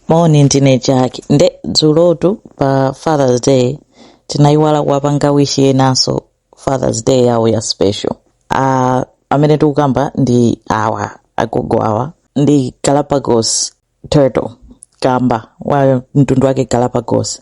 moni ndine jack nde dzulotu pa fathers day tinayiwala kuwapanga wish enanso fathers day yawo ya special uh, amene tikukamba ndi awa agogo awa ndi Galapagos turtle kamba wa mtundu wake galapagos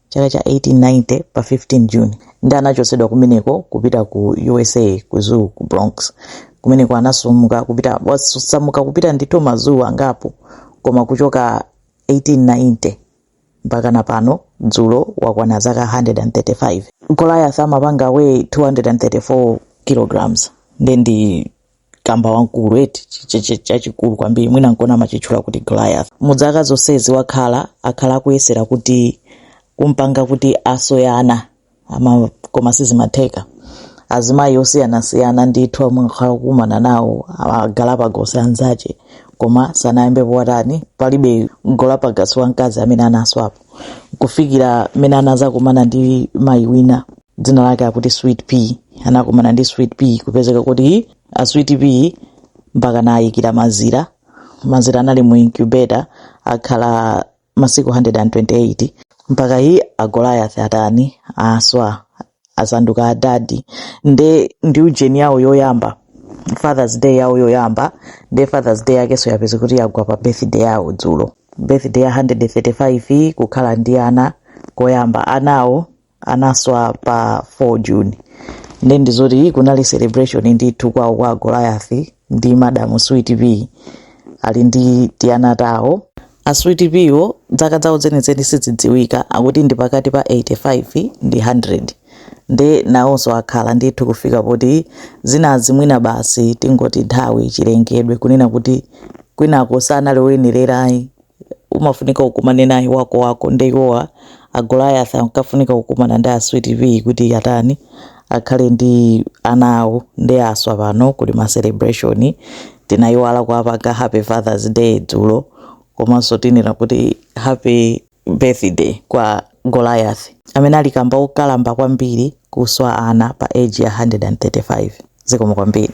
Chaka cha 1890 pa 15 June, ndiye anachotsedwa kumeneko kupita ku usa ku zoo ku Bronx. Kumeneko anasamuka kupita wasamuka kupita ndithu ma zoo angapo koma kuchoka 1890 mpaka na pano dzulo wakwana zaka 135. Goliath amapanga weigh 234 kilograms ndiye ndi kamba wamkulu eti chachikulu kwambiri mwina nkona amachitchula kuti goliath mu dzaka zonsezi wakhala akhala akuyesera kuti kumpanga kuti aswe ana koma sizimatheka azimayi osiyanasiyana ndithu amwe akhala kukumana nawo agalapagos anzache koma sanayambe powatani palibe galapagos wamkazi amene anaswapo kufikira mmene anazakumana ndi mayi wina dzina lake akuti sweet pea anakumana ndi sweet pea kupezeka kuti a sweet pea mpaka anayikira mazira mazira anali mu incubator akhala masiku 128 mpaka yi a goliath atani aswa asanduka adadi nde ndi ujeni yawo yoyamba fathers day yawo yoyamba nde fathers day yakenso yapeza kuti yagwa pa birthday yawo dzulo birthday ya 135 kukhala ndi ana koyamba anawo anaswa pa 4 june nde ndizoti kunali celebration ndithu kwawo kwa a goliath ndi madam sweet pea ali ndi tiana tawo a sweet pea wo dzaka dzawo zenizeni sizidziwika akuti ndi pakati pa 85 ndi 100 nde nawonso akhala ndithu kufika poti zinazi mwina basi tingoti nthawi chilengedwe kunena kuti kwinako sanali oyenererayi umafunika ukumane naye wako wako nde iwowa a Goliath ankafunika kukumana ndi a Sweet Pea kuti atani akhale ndi ana awo nde aswa pano kuli ma celebration tinayiwala kuwapanga happy fathers day dzulo komanso tinena kuti happy birthday kwa Goliath amene ali kamba okalamba kwambiri kuswa ana pa age ya 135 zikomo kwambiri